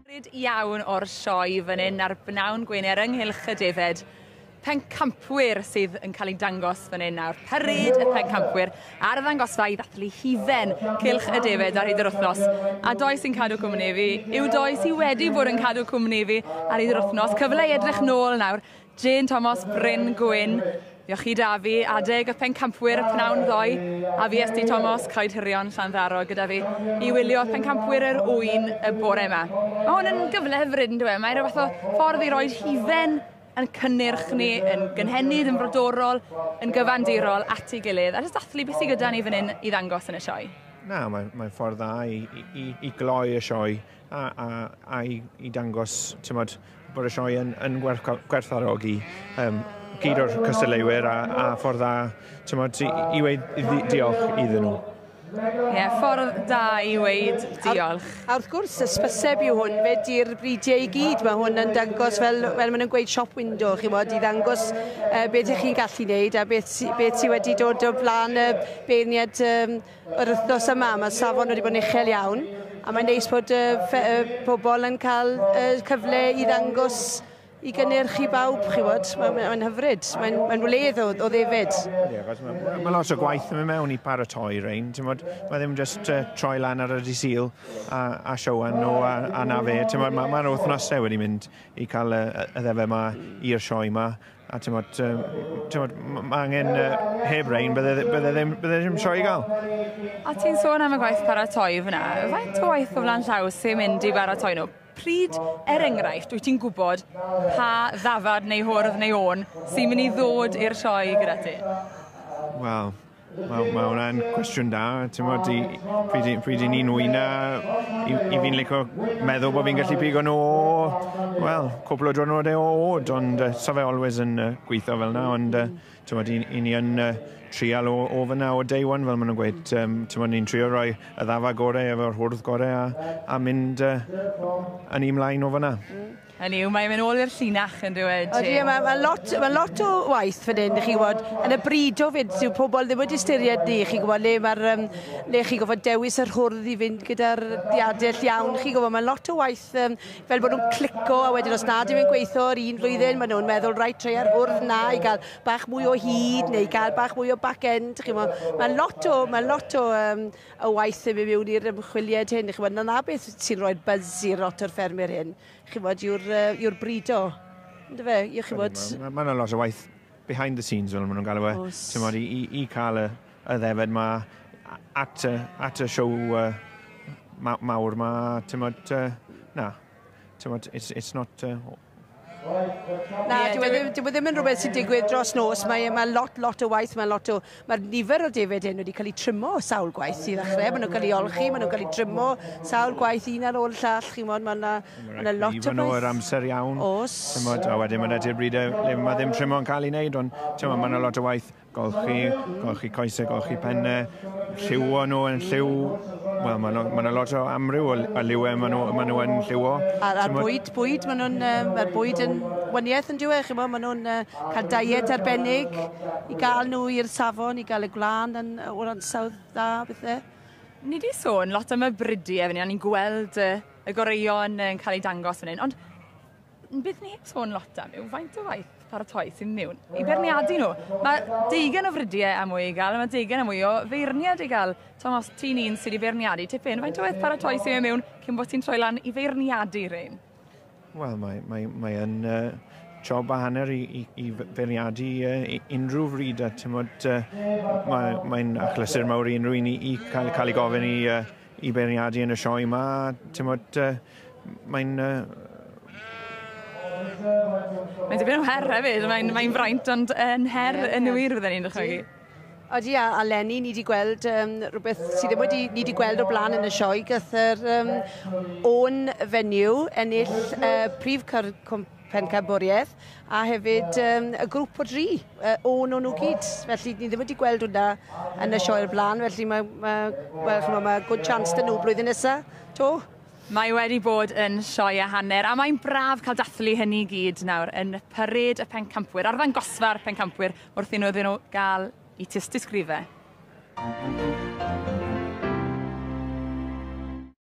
Bryd iawn o'r sioe fan hyn ar bnawn Gwener ynghylch y defaid pencampwyr sydd yn cael ei dangos fan hyn nawr. Parade y pencampwyr ar y ddangosfa i ddathlu hufen cylch y defaid ar hyd yr wythnos. A doi sy'n cadw cwmni fi yw doi sydd wedi bod yn cadw cwmni fi ar hyd yr wythnos. Cyfle i edrych nôl nawr Jane Thomas, Bryn Gwyn, Iochi Dafi, adeg y pencampwyr y pnawn ddoe, a VST Thomas, Coed Hirion, Llanddaro, gyda fi, i wylio pencampwyr yr ŵyn y bore yma. Mae hwn yn gyfle hyfryd yn dweud, mae rhyw fath o ffordd i roi hufen yn cynnyrch ni, yn gynhenid, yn frodorol, yn gyfandirol at ei gilydd, a jyst dathlu beth sydd gyda ni fan hyn i ddangos yn y sioe. Na, mae'n mae ffordd dda i, i, i, i gloi y sioe A, a, a i, i dangos, ti'n bod, bod y sioe yn, yn gwerthfarogi um, gyd o'r cystadleuwyr a, a ffordd dda, ti'n bod, i, i weid diolch iddyn nhw. Ie, yeah, ffordd da i weid diolch. A, a wrth gwrs, ysbyseb yw hwn, fe di'r bridiau i gyd. Mae hwn yn dangos, fel, fel maen nhw'n gweud, shop window, chi fod, i ddangos uh, beth ych chi'n gallu wneud a beth, beth sydd wedi dod o flaen y beirniad um, Yr wythnos yma mae safon wedi bod yn uchel iawn a mae'n neis bod y, fe, y pobl yn cael y cyfle i ddangos i gynnyrch i bawb, chi fod. Mae'n mae, mae hyfryd, mae'n mae wledd o, o ddefyd. Ie, yeah, mae, mae lot o gwaith yn mynd mewn i paratoi rhain, ti'n bod, mae ddim just uh, troi lan ar y disil a, a siowan nhw a, a na fe, ti'n bod, mae, mae wythnosau wedi mynd i cael y, y ddefa yma i'r sioe yma, A ti'n bod, ti'n bod, mae angen uh, heb rein, bydde, bydde, ddim, bydde ddim sio i gael. A ti'n sôn am y gwaith paratoi fyna, faint o waith o flan llaw sy'n mynd i baratoi nhw? Pryd, er enghraifft, wyt ti'n gwybod pa ddafad neu hwrdd neu o'n sy'n mynd i ddod i'r sioe gyda ti? Wel, Wel, mae hwnna'n cwestiwn da. Tymod, i, pryd, i, pryd i ni'n wyna, i, i fi'n licio meddwl bod fi'n gallu pigo nhw o, wel, cwpl o drwnodau o od, ond uh, sa fe always yn uh, gweithio fel yna, ond uh, tymod, i, i ni yn uh, trial o, o fyna o day one, fel maen nhw'n gweud, um, tymod, ni'n trio rhoi y ddafa gorau efo'r hwrdd gorau a, a mynd uh, yn ei mlaen o fyna. Mm. Hynny yw, mae'n mynd ôl i'r llinach yn dyw e, Jane? Odi, mae ma lot, ma lot o waith fan hyn, chi'n gwybod, yn y bryd o fyd, sy'n pobl ddim wedi styried ni, chi'n gwybod, le mae'r, um, le chi'n gwybod, dewis yr hwrdd i fynd gyda'r diadell iawn, chi'n gwybod, mae lot o waith um, fel bod nhw'n clico, a wedyn os nad yw'n mynd gweithio yr un flwyddyn, maen nhw'n meddwl, rai treu ar hwrdd na, i gael bach mwy o hyd, neu i gael bach mwy o back end, chi'n gwybod, mae lot o, mae lot o um, o waith i mewn i'r ymchwiliad hyn, chi'n gwybod, na na beth sy'n rhoi'r buzz i'r otter ffermwyr hyn, chi'n gwybod, yw'r uh, yw brido. Ynddo fe, yw chi'n gwybod... Mae ma yna lot o waith behind the scenes, fel maen nhw'n galw e, ti'n gwybod, i, i, i cael y, y ddefed ma at y, at y siow uh, mawr ma, ti'n gwybod, uh, na, Tywed, it's, it's not... Uh... Na, dwi wedi, dwi wedi mynd rhywbeth sy'n digwydd dros nos. Mae, mae lot, lot o waith, mae lot o... Mae'r nifer o defyd hyn wedi cael ei trymo sawl gwaith i ddechrau. Maen nhw'n cael ei olchi, maen nhw'n cael ei trymo sawl gwaith un ar ôl llall. Chi'n modd, mae yna ma lot o waith. Iwan o'r amser iawn. Os. Tymod, a wedyn mae'n edrych bryd e, mae ddim trymo yn cael ei wneud, ond mae yna lot o waith. golchi, golchi coesau, golchi pennau, lliwo nhw yn lliw, wel, mae yna ma lot o amryw o, o liwau maen nhw, ma nhw yn lliwo. A'r, ar bwyd, bwyd, maen nhw'n, um, mae bwyd yn wyniaeth yn diwedd, chi'n maen nhw'n uh, cael diet arbennig i gael nhw i'r safon, i gael y gwlân yn, o'r ansawdd dda, bethau. Ni wedi sôn lot am y bridiau fan hyn, a ni'n gweld uh, y goreuon yn cael eu dangos fan hyn, ond Un peth ni heb sôn lot am yw faint o waith paratoi sy'n mewn i beirniadu nhw. Mae deugen o fridiau a mwy i gael, mae deugen a mwy o feirniad i gael. Tom, os ti'n un sydd wedi beirniadu tipyn, faint o waith paratoi sy'n mewn cyn bod ti'n troi lan i feirniadu rhain? Wel, mae, mae, mae yn uh, job a hanner i, i, i feirniadu uh, unrhyw fryd a ti'n bod, uh, mae'n mae achlysur mawr i unrhyw un i, i cael, cael ei gofyn i uh, I beirniadu yn y sioe 'ma, timod, mae'n... Mae'n dipyn o her hefyd, mae'n mae fraint ond yn her yn wir fydden i'n dychmygu. Odi, a, a Lenny, ni wedi gweld um, rhywbeth sydd ddim wedi, ni wedi gweld o blaen yn y sioe, gath yr um, o'n fenyw ennill uh, prif cyr, cwmp, Pencampwriaeth, a hefyd um, y grŵp o dri, uh, o'n o'n nhw gyd. Felly, ni ddim wedi gweld hwnna yn y sioe'r blaen, felly mae, mae, mae, mae, mae good chance dyn nhw blwyddyn nesaf, to. Mae wedi bod yn sioe a hanner, a mae'n braf cael dathlu hynny i gyd nawr yn pyryd y pencampwyr, ar ddangosfa'r pencampwyr, wrth i nhw iddyn nhw gael i tystysgrifau.